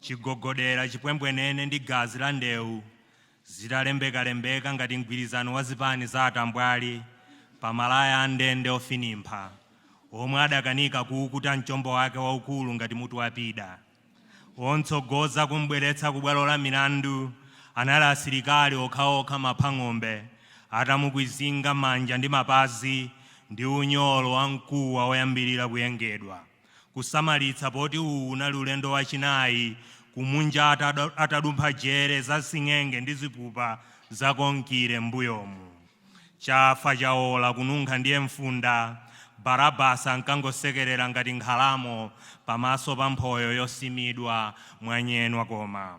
chigogodera, chipwembwenene ndi gazi la ndewu zitalembekalembeka ngati mgwirizano wa zipani za atambwali pa malaya a ndende ofinimpha omwe adakanika kuukuta mchombo wake waukulu ngati mutu wa pida. Omtsogoza kum'bweretsa kubwalo la milandu anali asilikali okhaokha maphang'ombe atamukwizinga manja ndi mapazi ndi unyolo wa mkuwa woyambirira kuyengedwa. kusamalitsa poti uwu unali ulendo wachinayi kumunja atadumpha jere za sing'enge ndi zipupa za konkire m'mbuyomu. Chafa chaola kununkha ndiye mfunda, Barabasi ankangosekerera ngati nkhalamo pamaso pa mphoyo yosimidwa mwanyenwa koma.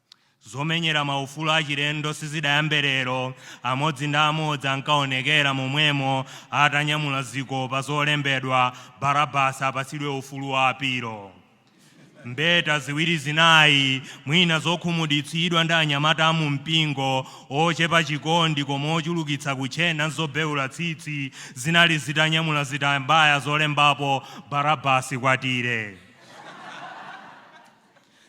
Zomenyera maufulu achilendo sizidayambe lero, amodzi ndi amodzi ankaonekera momwemo atanyamula zikopa zolembedwa, Barabasi apatsidwe ufulu wa apilo. Mbeta ziwiri zinayi, mwina zokhumudwitsidwa ndi anyamata a mumpingo, ochepa chikondi koma ochulukitsa kutchena n'zobeula tsitsi, zinali zitanyamula zitambaya zolembapo, Barabasi nkwatire.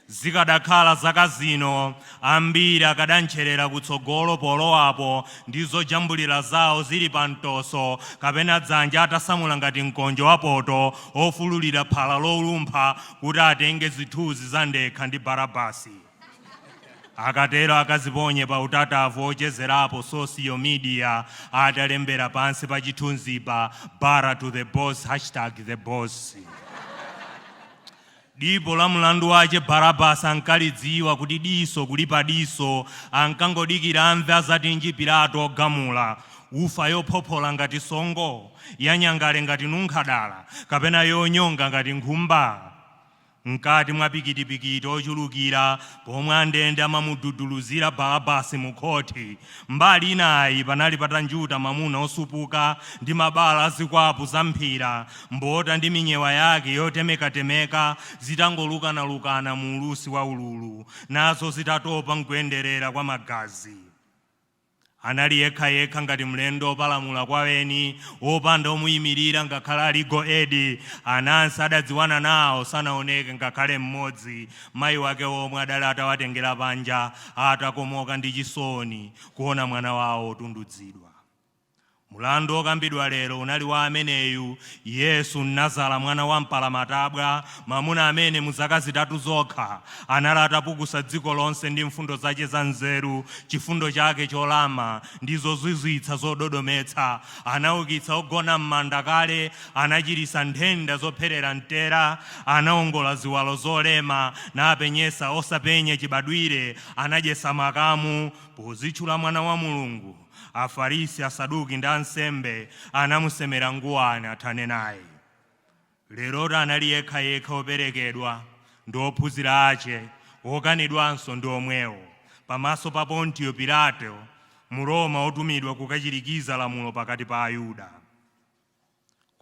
Zikadakhala zaka zino, ambiri akadantcherera kutsogolo polowapo ndi zojambulira zawo zili pamtoso kapena dzanja atasamula ngati mkonjo wa poto wofululira phala lolumpha kuti atenge zithunzi za ndekha ndi Barabasi. Akatero akaziponye pa utatavu wochezerapo social media atalembera pansi pa chithunzipa, Bara to the boss, hashtag the boss. Dipo la mlandu wache Barabasi ankalidziwa, kuti diso kulipa diso, ankangodikira amve adzatinji Pilato ogamula, imfa yophophola ngati songo, yanyangale ngati nunkhadala, kapena yonyonga ngati nkhumba? Mkati mwa pikitipikiti ochulukira Pomwe andende amamududuluzira Balabasi mu khoti, mbali inayi panali patanjuta mamuna osupuka ndi mabala a zikwapu za mphira, mbota ndi minyewa yake yotemekatemeka zitangolukanalukana mu ulusi wa ululu, nazo zitatopa n'kuyenderera kwa magazi. Anali yekhayekha ngati mlendo wopalamula kwa eni, wopanda omuyimirira ngakhale a Legal Aid. Anansi adadziwana nawo sanaoneke ngakhale mmodzi. Mayi wake omwe adali atawatengera panja atakomoka ndi chisoni kuona mwana wawo wotundudzidwa. Mulandu okambidwa lero unali wa ameneyu, Yesu Mnazara mwana wa mpalamatabwa, mamuna amene mu zaka zitatu zokha anali atapukusa dziko lonse ndi mfundo zace za nzeru, cifundo cake colama, ndi zozwizwitsa zododometsa. Anaukitsa ogona m'manda kale, anaciritsa nthenda zopherera mtera, anaongola ziwalo zolema, napenyetsa osapenya cibadwire, anadyetsa makamu, podzitchula Mwana wa Mulungu. Afarisi, Asaduki ndi ansembe anamusemera nguwani athane naye. Lerotu anali yekha yekha woperekedwa, ndi ophunzira ace, wokanidwanso ndi omwewo, pamaso pa Pontiyo Pilato, Mroma wotumidwa kukacirikiza lamulo pakati pa Ayuda.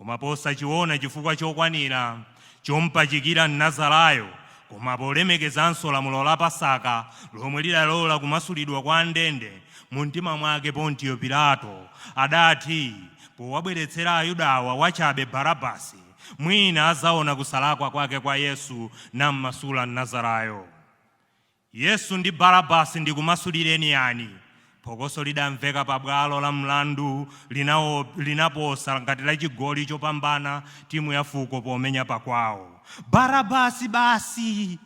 Koma posachiwona chifukwa chokwanira chompachikira Mnazarayo, koma polemekezanso lamulo la Pasaka lomwe lidalola kumasulidwa kwa andende, mumtima mwake Pontiyo Pilato adati powabweretsera Ayudawa wachabe Barabasi, mwina adzawona kusalakwa kwake kwa Yesu nammasula Mnazarayo. Yesu ndi Barabasi ndikumasulireni yani? Phokoso lidamveka pa bwalo la mlandu linaposa ngati la chigoli chopambana timu ya fuko pomenya pakwawo. Barabasi basi!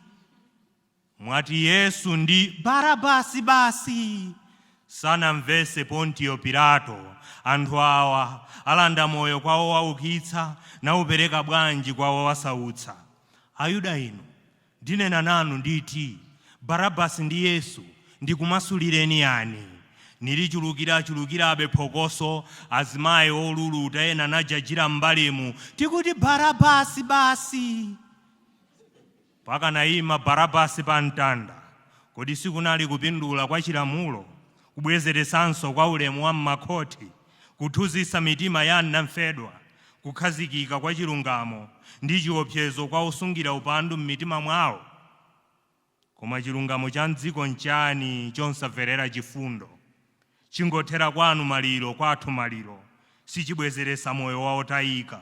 Mwati Yesu? Ndi Barabasi basi! Sanamvese Pontiyo Pilato, anthu awa alanda moyo kwa owaukitsa, naupereka bwanji kwa owasautsa? Ayuda inu, Ndinena nanu, nditi, Barabasi ndi Yesu ndikumasulireni yani? Nilichulukira-chulukirabe phokoso, azimayi oluluta ena najajira m'mbalemu, Tikuti Barabasi basi! Pakanaima Barabasi pa mtanda, kodi sikunali kupindula kwa chilamulo? kubwezeretsanso kwa ulemu wa m'makhoti, kuthunzitsa mitima ya anamfedwa, kukhazikika kwa chilungamo, ndi chiopsezo kwa osungira upandu m'mitima mwawo? Koma chilungamo cha m'dziko nchani chosamverera chifundo? Chingothera kwanu maliro, kwathu maliro, sichibwezeretsa moyo wa otayika.